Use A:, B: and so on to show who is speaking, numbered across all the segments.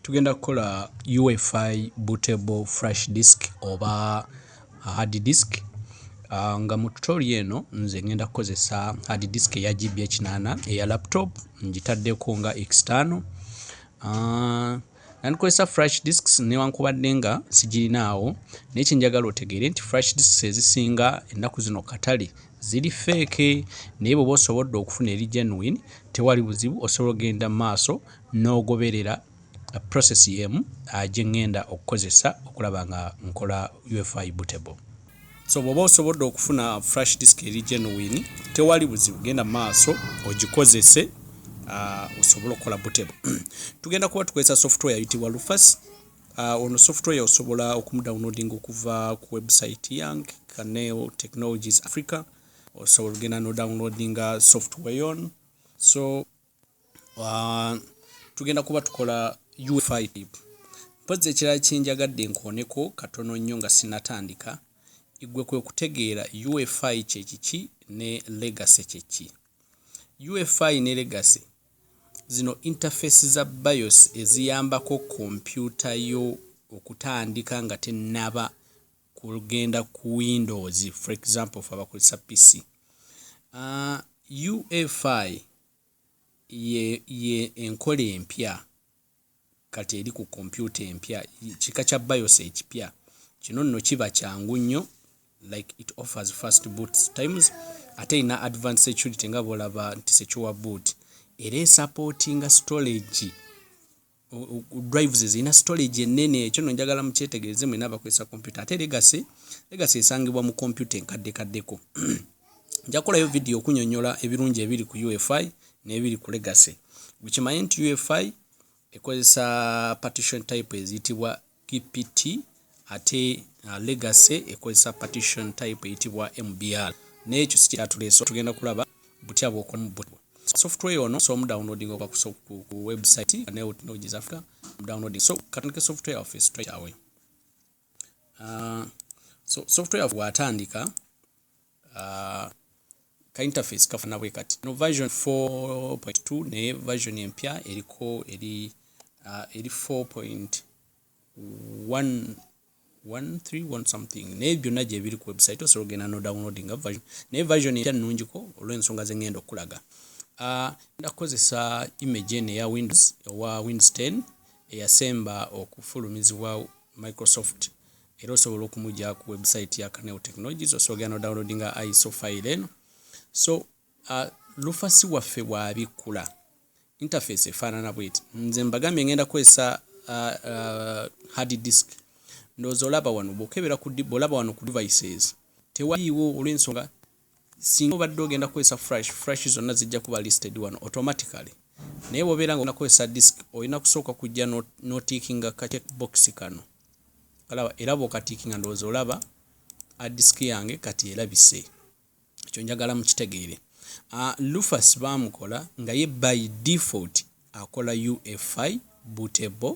A: Tugenda kukola UFI bootable flash disk oba hard disk nga mu tutorial eno nze ngenda kukozesa hard disk eya GB ekinaana eya laptop ngitaddeko nga external nandikozesa flash disks newankubadde nga sigirinaawo naye kyenjagala otegeere nti flash disks ezisinga ennaku zino katale ziri feeke naye bweoba osobodde okufuna eri genuine tewali buzibu osobola ogenda maaso n'ogoberera process yemu gyengenda okukozesa okulaba nga nkola UFI bootable. So bwoba osobodde okufuna flash disk eri genuine tewali buzibu genda maaso ogikozese osobole okukola bootable. Tugenda kuba tukozesa software ayitibwa Lufas. Ono software osobola okumudownloading okuva ku website yang Caneo Technologies Africa osobola ogenda no downloadinga software on so uh, tugenda kuba tukola ufi mpozi ekirala kyenjagadde nkooneko katono nnyo nga sinatandika igwe kwe kutegeera ufi kyekiki ne legacy kyeki ufi ne legacy zino interface za bios eziyambako kompyuta yo okutandika nga tenaba kugenda ku windows for example fe abakozesa pc uh, ufi ye, ye enkola empya kati eri ku kompyuta empya kika kya bios ekipya kino nno kiba kyangu nnyo like it offers first boot times ate erina advance security nga bolaba nti secure boot era esapootinga storage drives zirina storage ennene ekyo no njagala mukyetegereze mwena abakozesa kompyuta ate legasi legasi esangibwa mu kompyuta enkadde kaddeko nja kukolayo vidiyo okunyonyola ebirungi ebiri ku ufi n'ebiri ku legasi bukimanye nti ufi ekozesa partition type eziyitibwa PPT ate uh, legacy ekozesa partition type eyitibwa MBR n'ekyo si kyatuleese tugenda kulaba butya bw'okolamu butya software yono so omudownloading okuva ku website nayo technologies africa downloading so katandike software yaffe straight away uh, so software yaffe watandika uh, ka interface kafana bwe kati no version 4.2 naye version empya eriko eri uh, eri 4.1 something naye byonna gyebiri ku website osobola ogenda no downloading version naye version empya nnungiko olw'ensonga ze ngenda okukulaga uh, nda kukozesa image eno eya windows owa windows 10 eyasemba okufulumizibwa microsoft Era osobola okumujja ku website ya Caneo Technologies osobola genda no downloadinga ISO file eno. So uh, lufasi waffe bwabikkula interface efaanana bweti. Nze mbagambye ngenda kwesa uh, uh, hard disk. Ndozo olaba wano bokebera ku bwolaba wano ku devices. Tewaliwo olwensonga Singa obadde ogenda kukozesa flash, flash zonna zijja kuba listed wano automatically. Naye bw'obeera nga onakozesa disk, olina kusooka kujja n'otiikinga ka check box kano. Olaba era bw'okatiikinga ndowooza olaba a disk yange kati erabise. Ekyo njagala mukitegeere. Uh, Lufas baamukola nga ye by default akola UFI bootable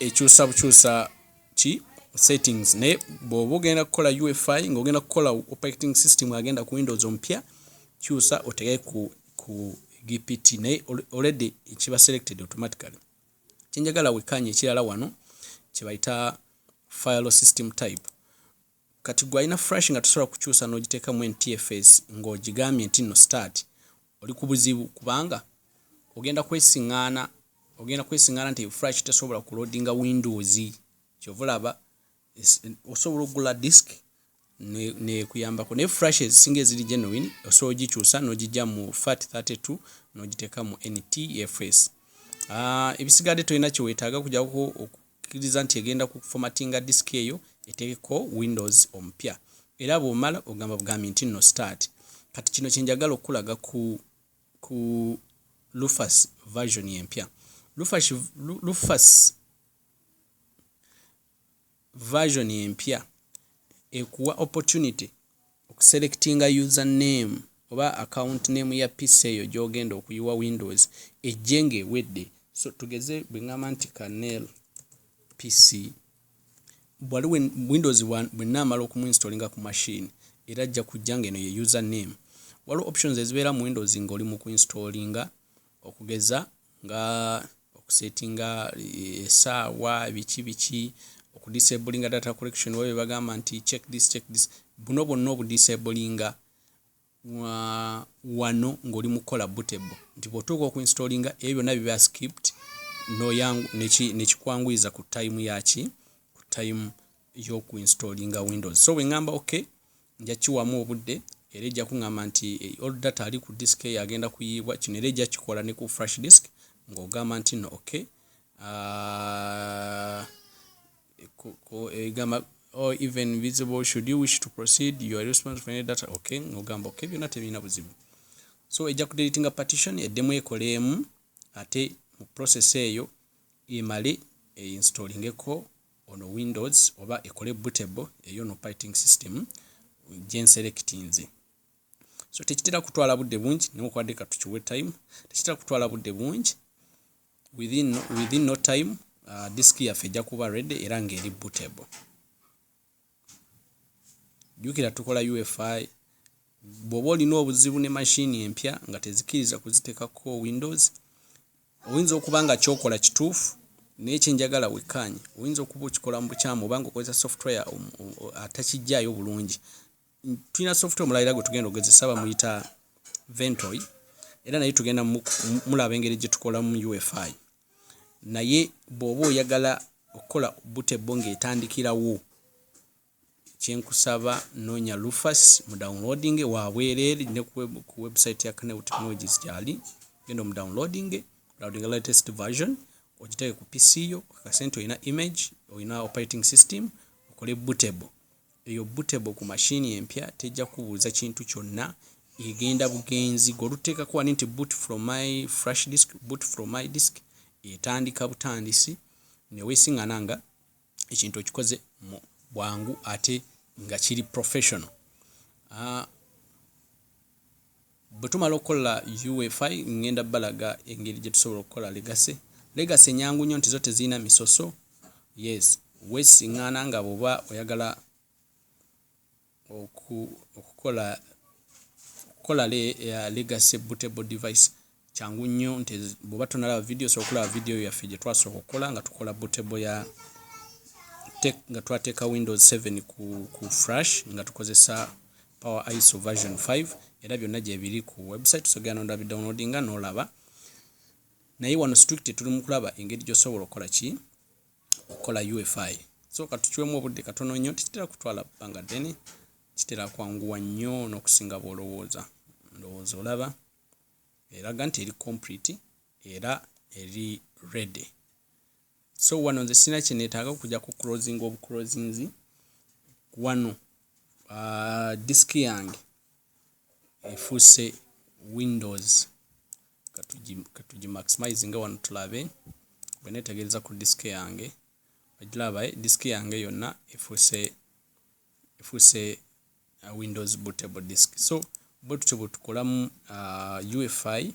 A: ekyusa bukyusa ki settings naye bwoba ogenda kukola UFI nga ogenda kukola operating system agenda ku Windows omupya kyusa otege ku ku GPT naye already ekiba selected automatically kyenjagala wekanye ekirala wano kyebayita file system type Kati gwe alina fresh nga tosobola kukyusa nogitekamu NTFS nga ogigambye nti no start oli kubuzibu kubanga ogenda kwesingana ogenda kwesingana nti fresh tesobola ku loadinga windows kyova olaba osobola okugula disk nekuyambako ne, ne fresh ezisinga eziri genuine osobola ogikyusa nogijja mu fat 32 nogitekamu NTFS. Uh, ah, ebisigadde tolina kyewetaaga kujako kiriza nti egenda ku formattinga disk eyo eteekeko windows omupya era bwomala ogamba bugambi nti no start kati kino kyenjagala okukulaga ku ku lufas version empya lufas lufas version empya ekuwa opportunity Oku selectinga user name oba account name ya PC eyo gyogenda okuyiwa windows ejje nga ewedde so tugeze bwengamba nti kanel PC bwali windows bwenamala oku muinstolinga ku machine era ajja kujja nga eno ye user name waliwo options ezibeera mu windows nga oli mu kuinstolinga okugeza nga okusetinga esaawa biki biki okudisabulinga data collection oba bebagamba nti check this check this buno bwonna obudisabulinga wano ng'oli mu kukola butebo nti bwotuuka okuinstolinga ebyo byonna biba skipt nekikwanguyiza ku time yaki ku time yokuinstolinga windows so bwengamba okay Nja kukiwaamu obudde era ejja kungamba nti old data ali ku disk eyo agenda kuyiibwa. Kino era ejja kukikola ne ku flash disk ng'ogamba nti nno ok. Uh, egamba or even visible should you wish to proceed you are responsible for any data okay ngogamba okay byonna tebirina buzibu so ejja kudeletinga partition eddemu ekoleemu ate mu process eyo emale einstallingeko Ono windows oba ekole bootable eyo no piting system gyenselectinze so tekitera kutwala budde bungi newakubadde katukiwe time tekitera kutwala budde bungi within, within no time uh, disk yaffe ejja kuba ready era ng'eri bootable jjukira tukola ufi bw'oba olina obuzibu ne mashini empya nga tezikiriza kuzitekako windows oyinza okuba nga kyokola kituufu naye kyenjagala wekkaanye oyinza okuba okikola mu bukyamu oba nga okozesa software um, um, atakijjaayo bulungi tulina software omulala era gwe tugenda ogezesa bamuyita ventoy era naye tugenda mulaba engeri gye tukolamu ufi naye bwoba oyagala okukola butebbo ng'etandikirawo kyenkusaba noonya lufas mu downloading wabwereere ne ku website ya Caneo Technologies gyali genda omu downloading downloading latest version ogiteeke ku PC yo okakase nti olina image olina operating system okole bootable Eyo bootable ku machine empya tejja kukubuuza kintu kyonna, egenda bugenzi goluteekako wali nti boot from my flash disk, boot from my disk, etandika butandisi newesingana nga ekintu okikoze mu bwangu ate nga kiri professional. Bwe tumala okukola UFI ngenda balaga engeri gye tusobola okukola Legacy. Legacy nyangu nnyo nti zo tezirina misoso. Yes, wesisiŋŋaana nga bw'oba oyagala oku, okukola okukola le, uh, Legacy bootable device kyangu nnyo nti bw'oba tonalaba vidiyo osobola okulaba vidiyo yaffe gye twasooka okukola nga tukola bootable ya nga twateeka windows 7 ku, ku frash nga tukozesa power iso version 5 era byonna gyebiri ku website sogera nonda bi downloadinga nolaba naye wano strict tuli mu kulaba engeri gyosobola okukola ki okukola ufi so katukiwemu obudde katono nnyo tekitera kutwala bbanga ddene kitera kwanguwa nnyo n'okusinga bwolowooza ndowooza olaba eraga nti eri complete era eri ready so wano nze sina kyenetaaga okuja ku closing of closings wano uh, disk yange efuuse windows katugimaximize nga wano tulabe bwenetegereza ku disk yange ogiraba eh, disk yange yonna efuuse efuuse uh, windows bootable disk so bwe tutyo bwetukolamu uh, ufi